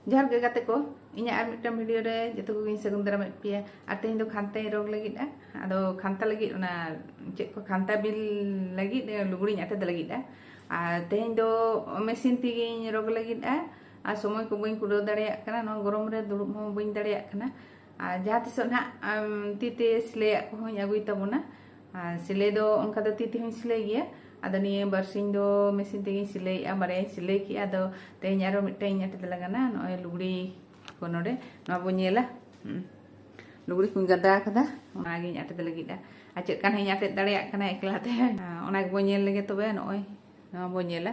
ᱡᱚᱦᱟᱨ ᱜᱮ ᱜᱟᱛᱮ ᱠᱚ ᱤᱧᱟᱹᱜ ᱟᱨ ᱢᱤᱫᱴᱟᱝ ᱵᱷᱤᱰᱤᱭᱳ ᱨᱮ ᱡᱚᱛᱚ ᱠᱚᱜᱮᱧ ᱥᱟᱹᱜᱩᱱ ᱫᱟᱨᱟᱢᱮᱫ ᱯᱮᱭᱟ ᱟᱨ ᱛᱮᱦᱮᱧ ᱫᱚ ᱠᱷᱟᱱᱛᱟᱧ ᱨᱚᱜᱽ ᱞᱟᱹᱜᱤᱫᱼᱟ ᱟᱫᱚ ᱠᱷᱟᱱᱛᱟ ᱞᱟᱹᱜᱤᱫ ᱚᱱᱟ ᱪᱮᱫ ᱠᱚ ᱠᱷᱟᱱᱛᱟ ᱵᱤᱞ ᱞᱟᱹᱜᱤᱫ ᱞᱩᱜᱽᱲᱤᱧ ᱟᱴᱮᱫ ᱞᱟᱹᱜᱤᱫᱼᱟ ᱟᱨ ᱛᱮᱦᱮᱧ ᱫᱚ ᱢᱮᱥᱤᱱ ᱛᱮᱜᱮᱧ ᱨᱚᱜᱽ ᱞᱟᱹᱜᱤᱫᱼᱟ ᱟᱨ ᱥᱚᱢᱚᱭ ᱠᱚ ᱵᱟᱹᱧ ᱠᱩᱲᱟᱹᱣ ᱫᱟᱲᱮᱭᱟᱜ ᱠᱟᱱᱟ ᱱᱚᱣᱟ ᱜᱚᱨᱚᱢ ᱨᱮ ᱫᱩᱲᱩᱵ ᱦᱚᱸ ᱵᱟᱹᱧ ᱫᱟᱲᱮᱭᱟᱜ ᱠᱟᱱᱟ ᱟᱨ ᱡᱟᱦᱟᱸ ᱛᱤᱥᱚᱜ ᱱᱟᱦᱟᱜ ᱛᱤᱛᱮ ᱥᱤᱞᱟᱹᱭᱟᱜ ᱠᱚᱦᱚᱸᱧ ᱟᱹᱜᱩᱭ ᱛᱟᱵᱚᱱᱟ ᱟᱨ ᱥᱤᱞᱟᱹᱭ ᱫᱚ ᱚᱱᱠᱟ ᱫᱚ ᱛᱤ ᱛᱮᱦᱚᱸᱧ ᱥᱤᱞᱟᱹᱭ ᱜᱮᱭᱟ ᱟᱫᱚ ᱱᱤᱭᱟᱹ ᱵᱟᱨᱥᱤᱧ ᱫᱚ ᱢᱮᱥᱤᱱ ᱛᱮᱜᱮᱧ ᱥᱤᱞᱟᱹᱭᱮᱜᱼᱟ ᱵᱟᱨᱭᱟᱧ ᱥᱤᱞᱟᱹᱭ ᱠᱮᱜᱼᱟ ᱟᱫᱚ ᱛᱮᱦᱮᱧ ᱟᱨᱚ ᱢᱤᱫᱴᱟᱝ ᱤᱧ ᱟᱴᱮᱫ ᱞᱟᱜᱟᱱᱟ ᱱᱚᱜᱼᱚᱭ ᱞᱩᱜᱽᱲᱤ ᱠᱚ ᱱᱚᱰᱮ ᱱᱚᱣᱟ ᱵᱚᱱ ᱧᱮᱞᱟ ᱞᱩᱜᱽᱲᱤ ᱠᱚᱧ ᱜᱟᱫᱟ ᱟᱠᱟᱫᱟ ᱚᱱᱟᱜᱤᱧ ᱟᱴᱮᱫ ᱞᱟᱹᱜᱤᱫᱼᱟ ᱟᱨ ᱪᱮᱫ ᱠᱟᱱ ᱦᱚᱸᱧ ᱟᱴᱮᱫ ᱫᱟᱲᱮᱭᱟᱜ ᱠᱟᱱᱟ ᱮᱠᱞᱟ ᱛᱮ ᱚᱱᱟ ᱜᱮᱵᱚᱱ ᱧᱮᱞ ᱞᱮᱜᱮ ᱛᱚᱵᱮ ᱱᱚᱜᱼᱚᱭ ᱱᱚᱣᱟ ᱵᱚᱱ ᱧᱮᱞᱟ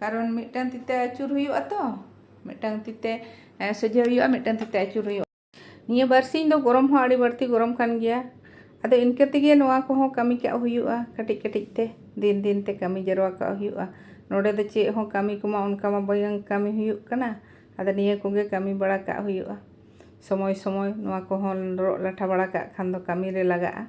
ᱠᱟᱨᱚᱱ ᱢᱤᱫᱴᱟᱝ ᱛᱤᱛᱮ ᱟᱹᱪᱩᱨ ᱦᱩᱭᱩᱜᱼᱟ ᱛᱚ ᱢᱤᱫᱴᱟᱝ ᱛᱤᱛᱮ ᱥᱚᱡᱷᱮ ᱦᱩᱭᱩᱜᱼᱟ ᱢᱤᱫᱴᱟᱝ ᱛᱤᱛᱮ ᱟᱹᱪᱩᱨ ᱦᱩᱭᱩᱜᱼᱟ ᱱᱤᱭᱟᱹ ᱵᱟᱨᱥᱤᱧ ᱫᱚ ᱜᱚᱨᱚᱢ ᱦᱚᱸ ᱟᱹᱰᱤ ᱵᱟᱹᱲᱛᱤ ᱜᱚᱨᱚᱢ ᱠᱟᱱ ᱜᱮᱭᱟ ᱟᱫᱚ ᱤᱱᱠᱟᱹ ᱛᱮᱜᱮ ᱱᱚᱣᱟ ᱠᱚᱦᱚᱸ ᱠᱟᱹᱢᱤ ᱠᱟᱜ ᱦᱩᱭᱩᱜᱼᱟ ᱠᱟᱹᱴᱤᱡ ᱠᱟᱹᱴᱤᱡ ᱛᱮ ᱫᱤᱱ ᱫᱤᱱ ᱛᱮ ᱠᱟᱹᱢᱤ ᱡᱟᱨᱣᱟ ᱠᱟᱜ ᱦᱩᱭᱩᱜᱼᱟ ᱱᱚᱰᱮ ᱫᱚ ᱪᱮᱫ ᱦᱚᱸ ᱠᱟᱹᱢᱤ ᱠᱚᱢᱟ ᱚᱱᱠᱟ ᱢᱟ ᱵᱟᱝ ᱠᱟᱹᱢᱤ ᱦᱩᱭᱩᱜ ᱠᱟᱱᱟ ᱟᱫᱚ ᱱᱤᱭᱟᱹ ᱠᱚᱜᱮ ᱠᱟᱹᱢᱤ ᱵᱟᱲᱟ ᱠᱟᱜ ᱦᱩᱭᱩᱜᱼᱟ ᱥᱚᱢᱚᱭ ᱥᱚᱢᱚᱭ ᱱᱚᱣᱟ ᱠᱚᱦᱚᱸ ᱨᱚᱜ ᱞᱟᱴᱷᱟ ᱵᱟᱲᱟ ᱠᱟᱜ ᱠᱷᱟᱱ ᱫᱚ ᱠᱟᱹᱢᱤᱨᱮ ᱞᱟᱜᱟᱜᱼᱟ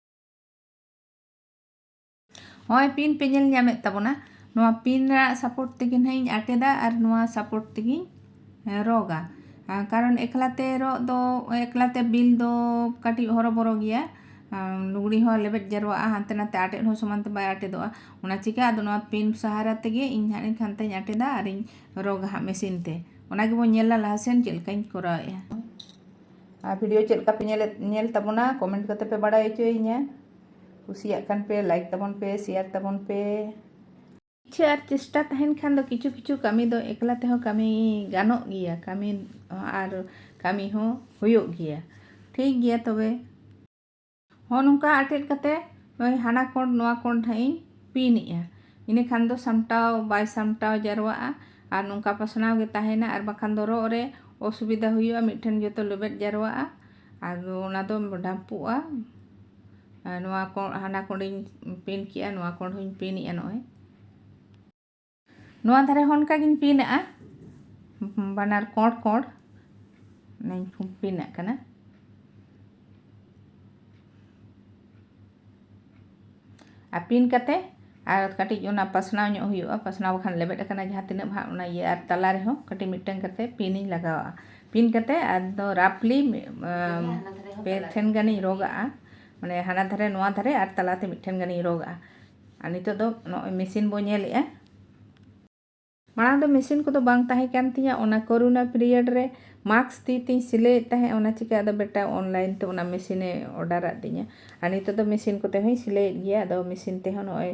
ᱱᱚᱜᱼᱚᱭ ᱯᱤᱱ ᱯᱮ ᱧᱮᱞ ᱧᱟᱢᱮᱫ ᱛᱟᱵᱚᱱᱟ ᱱᱚᱣᱟ ᱯᱤᱱ ᱨᱮᱱᱟᱜ ᱥᱟᱯᱳᱨᱴ ᱛᱮᱜᱮ ᱱᱟᱦᱟᱜ ᱤᱧ ᱟᱴᱮᱫᱟ ᱟᱨ ᱱᱚᱣᱟ ᱥᱟᱯᱳᱨᱴ ᱛᱮᱜᱮᱧ ᱨᱚᱜᱟ ᱠᱟᱨᱚᱱ ᱮᱠᱞᱟᱛᱮ ᱨᱚᱜ ᱫᱚ ᱮᱠᱞᱟᱛᱮ ᱵᱤᱞ ᱫᱚ ᱠᱟᱹᱴᱤᱡ ᱦᱚᱨᱚᱵᱚᱨᱚ ᱜᱮᱭᱟ ᱞᱩᱜᱽᱲᱤ ᱦᱚᱸ ᱞᱮᱵᱮᱫ ᱡᱟᱨᱣᱟᱜᱼᱟ ᱦᱟᱱᱛᱮ ᱱᱟᱛᱮ ᱟᱴᱮᱫ ᱦᱚᱸ ᱥᱚᱢᱟᱱ ᱛᱮ ᱵᱟᱭ ᱟᱴᱮᱫᱚᱜᱼᱟ ᱚᱱᱟ ᱪᱤᱠᱟ ᱟᱫᱚ ᱱᱚᱣᱟ ᱯᱤᱱ ᱥᱟᱦᱟᱨᱟ ᱛᱮᱜᱮ ᱤᱧ ᱦᱟᱸᱜ ᱤᱧ ᱠᱷᱟᱱᱛᱟᱧ ᱟᱴᱮᱫᱟ ᱟᱨᱤᱧ ᱨᱚᱜᱟ ᱦᱟᱸᱜ ᱢᱮᱥᱤᱱ ᱛᱮ ᱚᱱᱟ ᱜᱮᱵᱚᱱ ᱧᱮᱞᱟ ᱞᱟᱦᱟ ᱥᱮᱱ ᱪᱮᱫ ᱞᱮᱠᱟᱧ ᱠᱚᱨᱟᱣᱮᱫᱼᱟ ᱟᱨ ᱵᱷᱤᱰᱤᱭᱳ ᱪᱮᱫ ᱞᱮᱠᱟ ᱯᱮ ᱧᱮᱞᱮᱫ ᱧᱮᱞ ᱛᱟᱵᱚᱱᱟ ᱠᱚᱢᱮᱱᱴ ᱠᱟᱛᱮ ᱯᱮ ᱵᱟᱲᱟᱭ ᱦᱚᱪᱚᱭᱤᱧᱟ ᱠᱩᱥᱤᱭᱟᱜ ᱠᱟᱱ ᱯᱮ ᱞᱟᱭᱤᱠ ᱛᱟᱵᱚᱱ ᱯᱮ ᱥᱮᱭᱟᱨ ᱛᱟᱵᱚᱱ ᱯᱮ ᱤᱪᱪᱷᱟᱹ ᱟᱨ ᱪᱮᱥᱴᱟ ᱛᱟᱦᱮᱱ ᱠᱷᱟᱱ ᱫᱚ ᱠᱤᱪᱷᱩ ᱠᱤᱪᱷᱩ ᱠᱟᱹᱢᱤ ᱫᱚ ᱮᱠᱞᱟ ᱛᱮᱦᱚᱸ ᱠᱟᱹᱢᱤ ᱜᱟᱱᱚᱜ ᱜᱮᱭᱟ ᱠᱟᱹᱢᱤ ᱟᱨ ᱠᱟᱹᱢᱤ ᱦᱚᱸ ᱦᱩᱭᱩᱜ ᱜᱮᱭᱟ ᱴᱷᱤᱠ ᱜᱮᱭᱟ ᱛᱚᱵᱮ ᱦᱚᱸ ᱱᱚᱝᱠᱟ ᱟᱴᱮᱫ ᱠᱟᱛᱮ ᱱᱚᱜᱼᱚᱭ ᱦᱟᱱᱟ ᱠᱚᱬ ᱱᱚᱣᱟ ᱠᱚᱬ ᱱᱟᱦᱟᱜ ᱤᱧ ᱯᱤᱱᱮᱜᱼᱟ ᱤᱱᱟᱹ ᱠᱷᱟᱱ ᱫᱚ ᱥᱟᱢᱴᱟᱣ ᱵᱟᱭ ᱥᱟᱢᱴᱟᱣ ᱡᱟᱨᱣᱟᱜᱼᱟ ᱟᱨ ᱱᱚᱝᱠᱟ ᱯᱟᱥᱱᱟᱣ ᱜᱮ ᱛᱟᱦᱮᱱᱟ ᱟᱨ ᱵᱟᱠᱷᱟᱱ ᱫᱚ ᱨᱚᱜ ᱨᱮ ᱚᱥᱩᱵᱤᱫᱟ ᱦᱩᱭᱩᱜᱼᱟ ᱢᱤᱫᱴᱷᱮᱱ ᱡᱚᱛᱚ ᱞᱮᱵᱮᱫ ᱡᱟᱨᱣᱟᱜᱼᱟ ᱟᱫᱚ ᱚᱱᱟ ᱫᱚ ᱰᱷᱟᱢᱯᱩᱜᱼᱟ ᱱᱚᱣᱟ ᱠᱚᱬ ᱦᱟᱱᱟ ᱠᱚᱬᱤᱧ ᱯᱤᱱ ᱠᱮᱜᱼᱟ ᱱᱚᱣᱟ ᱠᱚᱬ ᱦᱚᱧ ᱯᱤᱱᱮᱜᱼᱟ ᱱᱚᱜᱼᱚᱭ ᱱᱚᱣᱟ ᱫᱷᱟᱨᱮ ᱦᱚᱸ ᱚᱱᱠᱟᱜᱤᱧ ᱯᱤᱱ ᱟᱜᱼᱟ ᱵᱟᱱᱟᱨ ᱠᱚᱸᱰ ᱠᱚᱸᱰ ᱚᱱᱟᱧ ᱯᱤᱱ ᱟᱜ ᱠᱟᱱᱟ ᱟᱨ ᱯᱤᱱ ᱠᱟᱛᱮ ᱟᱨ ᱠᱟᱹᱴᱤᱡ ᱚᱱᱟ ᱯᱟᱥᱱᱟᱣ ᱧᱚᱜ ᱦᱩᱭᱩᱜᱼᱟ ᱯᱟᱥᱱᱟᱣ ᱵᱟᱠᱷᱟᱱ ᱞᱮᱵᱮᱫ ᱟᱠᱟᱱᱟ ᱡᱟᱦᱟᱸ ᱛᱤᱱᱟᱹᱜ ᱵᱷᱟᱜ ᱚᱱᱟ ᱤᱭᱟᱹ ᱟᱨ ᱛᱟᱞᱟ ᱨᱮᱦᱚᱸ ᱠᱟᱹᱴᱤᱡ ᱢᱤᱫᱴᱟᱝ ᱠᱟᱛᱮ ᱯᱤᱱᱤᱧ ᱞᱟᱜᱟᱣᱟᱜᱼᱟ ᱯᱤᱱ ᱠᱟᱛᱮ ᱟᱫᱚ ᱨᱟᱯᱷᱞᱤ ᱯᱮ ᱴᱷᱮᱱ ᱜᱟᱱᱤᱧ ᱨᱚᱜᱟᱜᱼᱟ ᱢᱟᱱᱮ ᱦᱟᱱᱟ ᱫᱷᱟᱨᱮ ᱱᱚᱣᱟ ᱫᱷᱟᱨᱮ ᱟᱨ ᱛᱟᱞᱟᱛᱮ ᱢᱤᱫᱴᱷᱮᱱ ᱜᱟᱱᱤᱧ ᱨᱚᱜᱟᱜᱼᱟ ᱟᱨ ᱱᱤᱛᱚᱜ ᱫᱚ ᱱᱚᱜᱼᱚᱭ ᱢᱮᱥᱤᱱ ᱵᱚ ᱧᱮᱞᱮᱜᱼᱟ ᱢᱟᱲᱟᱝ ᱫᱚ ᱢᱮᱥᱤᱱ ᱠᱚᱫᱚ ᱵᱟᱝ ᱛᱟᱦᱮᱸ ᱠᱟᱱ ᱛᱤᱧᱟᱹ ᱚᱱᱟ ᱠᱚᱨᱳᱱᱟ ᱯᱤᱨᱤᱭᱚᱰ ᱨᱮ ᱢᱟᱠᱥ ᱛᱤ ᱛᱤᱧ ᱥᱤᱞᱟᱹᱭᱮᱫ ᱛᱟᱦᱮᱸᱫ ᱚᱱᱟ ᱪᱤᱠᱟᱹ ᱟᱫᱚ ᱵᱮᱴᱟ ᱚᱱᱞᱟᱭᱤᱱ ᱛᱮ ᱚᱱᱟ ᱢᱮᱥᱤᱱᱮ ᱚᱰᱟᱨᱟᱫ ᱛᱤᱧᱟᱹ ᱟᱨ ᱱᱤᱛᱚᱜ ᱫᱚ ᱢᱮᱥᱤᱱ ᱠᱚᱛᱮ ᱦᱚᱸᱧ ᱥᱤᱞᱟᱹᱭᱮᱫ ᱜᱮᱭᱟ ᱟᱫᱚ ᱢᱮᱥᱤᱱ ᱛᱮᱦᱚᱸ ᱱᱚᱜᱼᱚᱭ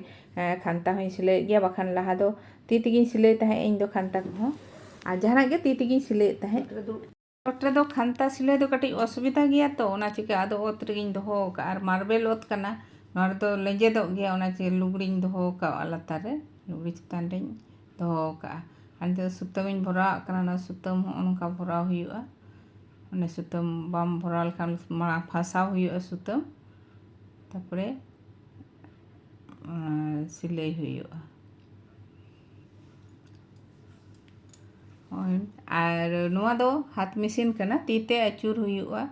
ᱠᱷᱟᱱᱛᱟ ᱦᱚᱸᱧ ᱥᱤᱞᱟᱹᱭᱮᱫ ᱜᱮᱭᱟ ᱵᱟᱠᱷᱟᱱ ᱞᱟᱦᱟ ᱫᱚ ᱛᱤ ᱛᱮᱜᱮᱧ ᱥᱤᱞᱟᱹᱭ ᱛᱟᱦᱮᱸᱫ ᱤᱧ ᱫᱚ ᱠᱷᱟᱱᱛᱟ ᱠᱚᱦᱚᱸ ᱟᱨ ᱡᱟᱦᱟᱱᱟᱜ ᱜᱮ ᱛᱤ ᱛᱮᱜᱮᱧ ᱥᱤᱞᱟᱹᱭᱮᱫ ᱛᱟᱦᱮᱸᱫ ᱚᱛ ᱨᱮᱫᱚ ᱠᱷᱟᱱᱛᱟ ᱥᱤᱞᱟᱹᱭ ᱫᱚ ᱠᱟᱹᱴᱤᱡ ᱚᱥᱩᱵᱤᱫᱷᱟ ᱜᱮᱭᱟ ᱛᱚ ᱚᱱᱟ ᱪᱤᱠᱟᱹ ᱟᱫᱚ ᱚᱛ ᱨᱮᱜᱮᱧ ᱫᱚᱦᱚ ᱟᱠᱟᱫᱼᱟ ᱟᱨ ᱢᱟᱨᱵᱮᱞ ᱚᱛ ᱠᱟᱱᱟ ᱱᱚᱣᱟ ᱨᱮᱫᱚ ᱞᱮᱸᱡᱮᱫᱚᱜ ᱜᱮᱭᱟ ᱚᱱᱟ ᱪᱮ ᱞᱩᱜᱽᱲᱤᱧ ᱫᱚᱦᱚ ᱟᱠᱟᱫᱼᱟ ᱞᱟᱛᱟᱨ ᱨᱮ ᱞᱩᱜᱽᱲᱤ ᱪᱮᱛᱟᱱ ᱨᱮᱧ ᱫᱚᱦᱚ ᱟᱠᱟᱫᱼᱟ ᱟᱨ ᱱᱤᱛᱳᱜ ᱥᱩᱛᱟᱹᱢᱤᱧ ᱵᱷᱚᱨᱟᱣᱟᱜ ᱠᱟᱱᱟ ᱚᱱᱟ ᱥᱩᱛᱟᱹᱢ ᱦᱚᱸ ᱚᱱᱠᱟ ᱵᱷᱚᱨᱟᱣ ᱦᱩᱭᱩᱜᱼᱟ ᱚᱱᱮ ᱥᱩᱛᱟᱹᱢ ᱵᱟᱢ ᱵᱷᱚᱨᱟᱣ ᱞᱮᱠᱷᱟᱱ ᱢᱟᱲᱟᱝ ᱯᱷᱟᱥᱟᱣ ᱦᱩᱭᱩᱜᱼᱟ ᱥᱩᱛᱟᱹᱢ ᱛᱟᱨᱯᱚᱨᱮ ᱥᱤᱞᱟᱹᱭ ᱦᱩᱭᱩᱜᱼᱟ ᱟᱨ ᱱᱚᱣᱟ ᱫᱚ ᱦᱟᱛ ᱢᱮᱥᱤᱱ ᱠᱟᱱᱟ ᱛᱤ ᱛᱮ ᱟᱹᱪᱩᱨ ᱦᱩᱭᱩᱜᱼᱟ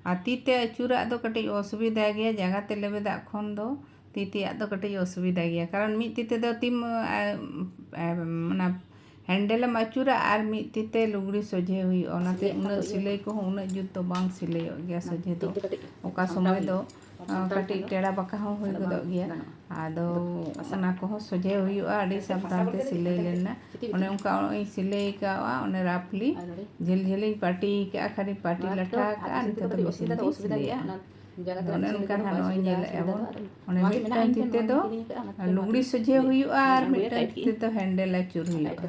ᱟᱨ ᱛᱤ ᱛᱮ ᱟᱹᱪᱩᱨᱟᱜ ᱫᱚ ᱠᱟᱹᱴᱤᱡ ᱚᱥᱩᱵᱤᱫᱷᱟ ᱜᱮᱭᱟ ᱡᱟᱸᱜᱟ ᱛᱮ ᱞᱮᱵᱮᱫᱟᱜ ᱠᱷᱚᱱ ᱫᱚ ᱛᱤ ᱛᱮᱭᱟᱜ ᱫᱚ ᱠᱟᱹᱴᱤᱡ ᱚᱥᱩᱵᱤᱫᱷᱟ ᱜᱮᱭᱟ ᱠᱟᱨᱚᱱ ᱢᱤᱫ ᱛᱤ ᱛᱮᱫᱚ ᱛᱤᱢ ᱚᱱᱟ ᱦᱮᱱᱰᱮᱞ ᱮᱢ ᱟᱹᱪᱩᱨᱟ ᱟᱨ ᱢᱤᱫ ᱛᱤ ᱛᱮ ᱞᱩᱜᱽᱲᱤ ᱥᱚᱡᱷᱮ ᱦᱩᱭᱩᱜᱼᱟ ᱚᱱᱟᱛᱮ ᱩᱱᱟᱹᱜ ᱥᱤᱞᱟᱹᱭ ᱠᱚᱦᱚᱸ ᱩᱱᱟᱹᱜ ᱡᱩᱛ ᱫᱚ ᱵᱟᱝ ᱥᱤᱞᱟᱹᱭᱚᱜ ᱜᱮᱭᱟ ᱥᱚᱡᱷᱮ ᱫᱚ ᱚᱠᱟ ᱥᱚᱢᱚᱭ ᱫᱚ ᱠᱟᱹᱴᱤᱡ ᱴᱮᱲᱟ ᱵᱟᱸᱠᱟ ᱦᱚᱸ ᱦᱩᱭ ᱜᱚᱫᱚᱜ ᱜᱮᱭᱟ ᱟᱫᱚ ᱚᱱᱟ ᱠᱚᱦᱚᱸ ᱥᱚᱡᱷᱮ ᱦᱩᱭᱩᱜᱼᱟ ᱟᱹᱰᱤ ᱥᱟᱵᱫᱷᱟᱱ ᱛᱮ ᱥᱤᱞᱟᱹᱭ ᱞᱮᱱᱟ ᱚᱱᱮ ᱚᱱᱠᱟ ᱤᱧ ᱥᱤᱞᱟᱹᱭ ᱠᱟᱜᱼᱟ ᱚᱱᱮ ᱨᱟᱯᱷᱞᱤ ᱡᱷᱟᱹᱞ ᱡᱷᱟᱹᱞᱤᱧ ᱯᱟᱹᱴᱤ ᱠᱟᱜᱼᱟ ᱠᱷᱟᱹᱞᱤ ᱯᱟᱹᱴᱤ ᱞᱟᱴᱷᱟ ᱠᱟᱜᱼᱟ ᱱᱤᱛᱚᱜ ᱫᱚ ᱢᱮᱥᱤᱱ ᱛᱮᱧ ᱥᱤᱞᱟᱹᱭᱟ ᱚᱱᱮ ᱚᱱᱠᱟ ᱱᱟᱦᱟᱜ ᱱᱚᱜᱼᱚᱭ ᱧᱮᱞᱮᱫ ᱟᱵᱚᱱ ᱚᱱᱮ ᱢᱤᱫᱴᱟᱝ ᱛᱤ ᱛᱮᱫᱚ ᱞᱩᱜᱽᱲᱤ ᱥᱚᱡᱷᱮ ᱦᱩᱭᱩᱜᱼᱟ ᱟᱨ ᱢᱤᱫᱴᱟᱝ ᱛᱤ ᱛᱮᱫᱚ ᱦᱮᱱᱰᱮᱞ ᱟᱹᱪᱩᱨ ᱦᱩᱭᱩᱜᱼᱟ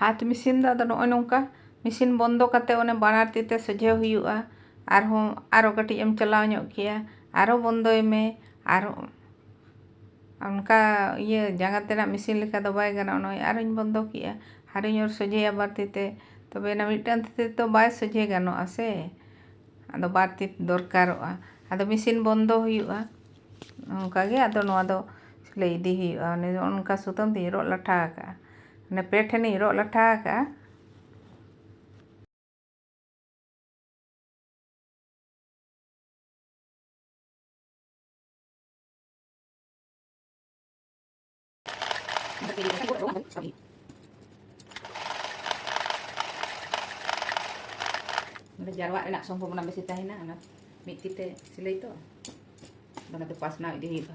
ᱦᱟᱛ ᱢᱮᱥᱤᱱ ᱫᱚ ᱟᱫᱚ ᱱᱚᱜᱼᱚᱭ ᱱᱚᱝᱠᱟ ᱢᱮᱥᱤᱱ ᱵᱚᱱᱫᱚ ᱠᱟᱛᱮ ᱚᱱᱮ ᱵᱟᱱᱟᱨ ᱛᱤ ᱛᱮ ᱥᱚᱡᱷᱮ ᱦᱩᱭᱩᱜᱼᱟ ᱟᱨᱦᱚᱸ ᱟᱨᱚ ᱠᱟᱹᱴᱤᱡ ᱮᱢ ᱪᱟᱞᱟᱣ ᱧᱚᱜ ᱠᱮᱭᱟ ᱟᱨᱚ ᱵᱚᱱᱫᱚᱭ ᱢᱮ ᱟᱨᱚ ᱚᱱᱠᱟ ᱤᱭᱟᱹ ᱡᱟᱸᱜᱟ ᱛᱮᱱᱟᱜ ᱢᱮᱥᱤᱱ ᱞᱮᱠᱟ ᱫᱚ ᱵᱟᱭ ᱜᱟᱱᱚᱜᱼᱟ ᱱᱚᱜᱼᱚᱭ ᱟᱨᱚᱧ ᱵᱚᱱᱫᱚ ᱠᱮᱜᱼᱟ ᱟᱨᱚᱧ ᱚᱨ ᱥᱚᱡᱷᱮᱭᱟ ᱵᱟᱨ ᱛᱤ ᱛᱮ ᱛᱚᱵᱮ ᱟᱱᱟᱜ ᱢᱤᱫᱴᱟᱝ ᱛᱤ ᱛᱮᱫᱚ ᱵᱟᱭ ᱥᱚᱡᱷᱮ ᱜᱟᱱᱚᱜᱼᱟ ᱥᱮ ᱟᱫᱚ ᱵᱟᱨ ᱛᱤ ᱫᱚᱨᱠᱟᱨᱚᱜᱼᱟ ᱟᱫᱚ ᱢᱮᱥᱤᱱ ᱵᱚᱱᱫᱚ ᱦᱩᱭᱩᱜᱼᱟ ᱚᱱᱠᱟ ᱜᱮ ᱟᱫᱚ ᱱᱚᱣᱟ ᱫᱚ ᱥᱤᱞᱟᱹᱭ ᱤᱫᱤ ᱦᱩᱭᱩᱜᱼᱟ ᱚᱱᱮ ᱚᱱᱠᱟ ᱥᱩᱛᱟᱹᱢ ᱛᱤᱧ ᱨᱚᱜ ᱞᱟᱴᱷᱟ ᱟᱠᱟᱜᱼᱟ ᱚᱱᱮ ᱯᱮ ᱴᱷᱮᱱᱤᱧ ᱨᱚᱜ ᱞᱟᱴᱷᱟ ᱟᱠᱟᱜᱼᱟ ᱡᱟᱨᱣᱟᱜ ᱨᱮᱱᱟᱜ ᱥᱚᱢᱵᱷᱚᱵᱚᱱᱟ ᱵᱮᱥᱤ ᱛᱟᱦᱮᱱᱟ ᱚᱱᱟ ᱢᱤᱫ ᱛᱤᱛᱮ ᱥᱤᱞᱟᱹᱭ ᱛᱚ ᱚᱱᱟ ᱫᱚ ᱯᱟᱥᱱᱟᱣ ᱤᱫᱤ ᱦᱩᱭᱩᱜᱼᱟ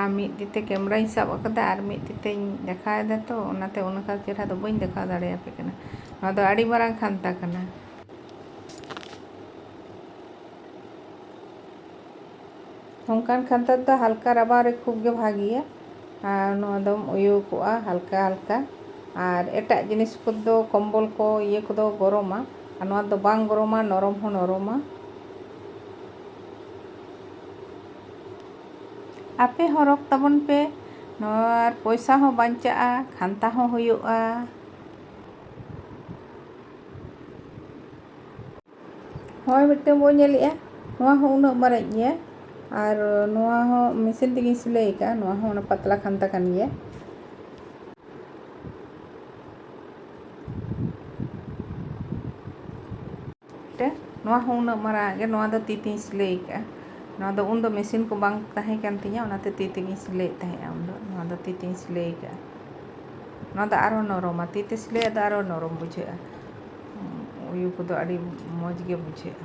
ᱟᱨ ᱢᱤᱫ ᱛᱤ ᱛᱮ ᱠᱮᱢᱮᱨᱟᱧ ᱥᱟᱵ ᱟᱠᱟᱫᱟ ᱟᱨ ᱢᱤᱫ ᱛᱤ ᱛᱮᱧ ᱫᱮᱠᱷᱟᱣ ᱮᱫᱟ ᱛᱚ ᱚᱱᱟᱛᱮ ᱚᱱᱠᱟ ᱪᱮᱦᱨᱟ ᱫᱚ ᱵᱟᱹᱧ ᱫᱮᱠᱷᱟᱣ ᱫᱟᱲᱮᱭᱟᱯᱮ ᱠᱟᱱᱟ ᱱᱚᱣᱟ ᱫᱚ ᱟᱹᱰᱤ ᱢᱟᱨᱟᱝ ᱠᱷᱟᱱᱛᱟ ᱠᱟᱱᱟ ᱚᱱᱠᱟᱱ ᱠᱷᱟᱱᱛᱟ ᱫᱚ ᱦᱟᱞᱠᱟ ᱨᱟᱵᱟᱝ ᱨᱮ ᱠᱷᱩᱵ ᱜᱮ ᱵᱷᱟᱜᱮᱭᱟ ᱟᱨ ᱱᱚᱣᱟ ᱫᱚᱢ ᱩᱭᱩ ᱠᱚᱜᱼᱟ ᱦᱟᱞᱠᱟ ᱦᱟᱞᱠᱟ ᱟᱨ ᱮᱴᱟᱜ ᱡᱤᱱᱤᱥ ᱠᱚᱫᱚ ᱠᱚᱢᱵᱚᱞ ᱠᱚ ᱤᱭᱟᱹ ᱠᱚᱫᱚ ᱜᱚᱨᱚᱢᱟ ᱟᱨ ᱱᱚᱣᱟ ᱫᱚ ᱵᱟᱝ ᱜᱚᱨᱚᱢᱟ ᱱᱚᱨᱚᱢ ᱦᱚᱸ ᱱᱚᱨᱚᱢᱟ ᱟᱯᱮ ᱦᱚᱸ ᱨᱚᱜᱽ ᱛᱟᱵᱚᱱ ᱯᱮ ᱟᱨ ᱯᱚᱭᱥᱟ ᱦᱚᱸ ᱵᱟᱧᱪᱟᱜᱼᱟ ᱠᱷᱟᱱᱛᱟ ᱦᱚᱸ ᱦᱩᱭᱩᱜᱼᱟ ᱦᱳᱭ ᱢᱤᱫᱴᱟᱝ ᱵᱚᱱ ᱧᱮᱞᱮᱜᱼᱟ ᱱᱚᱣᱟ ᱦᱚᱸ ᱩᱱᱟᱹᱜ ᱢᱟᱨᱟᱝ ᱜᱮᱭᱟ ᱟᱨ ᱱᱚᱣᱟ ᱦᱚᱸ ᱢᱮᱥᱤᱱ ᱛᱮᱜᱮᱧ ᱥᱤᱞᱟᱹᱭ ᱟᱠᱟᱫᱼᱟ ᱱᱚᱣᱟ ᱦᱚᱸ ᱚᱱᱟ ᱯᱟᱛᱞᱟ ᱠᱷᱟᱱᱛᱟ ᱠᱟᱱ ᱜᱮᱭᱟ ᱛᱮ ᱱᱚᱣᱟ ᱦᱚᱸ ᱩᱱᱟᱹᱜ ᱢᱟᱨᱟᱝ ᱜᱮ ᱱᱚᱣᱟ ᱫᱚ ᱛᱤ ᱛᱮᱧ ᱥᱤᱞᱟᱹᱭ ᱟᱠᱟᱫᱼᱟ ᱱᱚᱣᱟ ᱫᱚ ᱩᱱ ᱫᱚ ᱢᱮᱥᱤᱱ ᱠᱚ ᱵᱟᱝ ᱛᱟᱦᱮᱸ ᱠᱟᱱ ᱛᱤᱧᱟᱹ ᱚᱱᱟᱛᱮ ᱛᱤ ᱛᱮᱜᱮᱧ ᱥᱤᱞᱟᱹᱭᱮᱫ ᱛᱟᱦᱮᱸᱫᱼᱟ ᱩᱱ ᱫᱚ ᱱᱚᱣᱟ ᱫᱚ ᱛᱤ ᱛᱮᱧ ᱥᱤᱞᱟᱹᱭ ᱟᱠᱟᱫᱼᱟ ᱱᱚᱣᱟ ᱫᱚ ᱟᱨᱦᱚᱸ ᱱᱚᱨᱚᱢᱟ ᱛᱤ ᱛᱮ ᱥᱤᱞᱟᱹᱭᱟᱜ ᱫᱚ ᱟᱨᱦᱚᱸ ᱱᱚᱨᱚᱢ ᱵᱩᱡᱷᱟᱹᱜᱼᱟ ᱩᱭᱩ ᱠᱚᱫᱚ ᱟᱹᱰᱤ ᱢᱚᱡᱽ ᱜᱮ ᱵᱩᱡᱷᱟᱹᱜᱼᱟ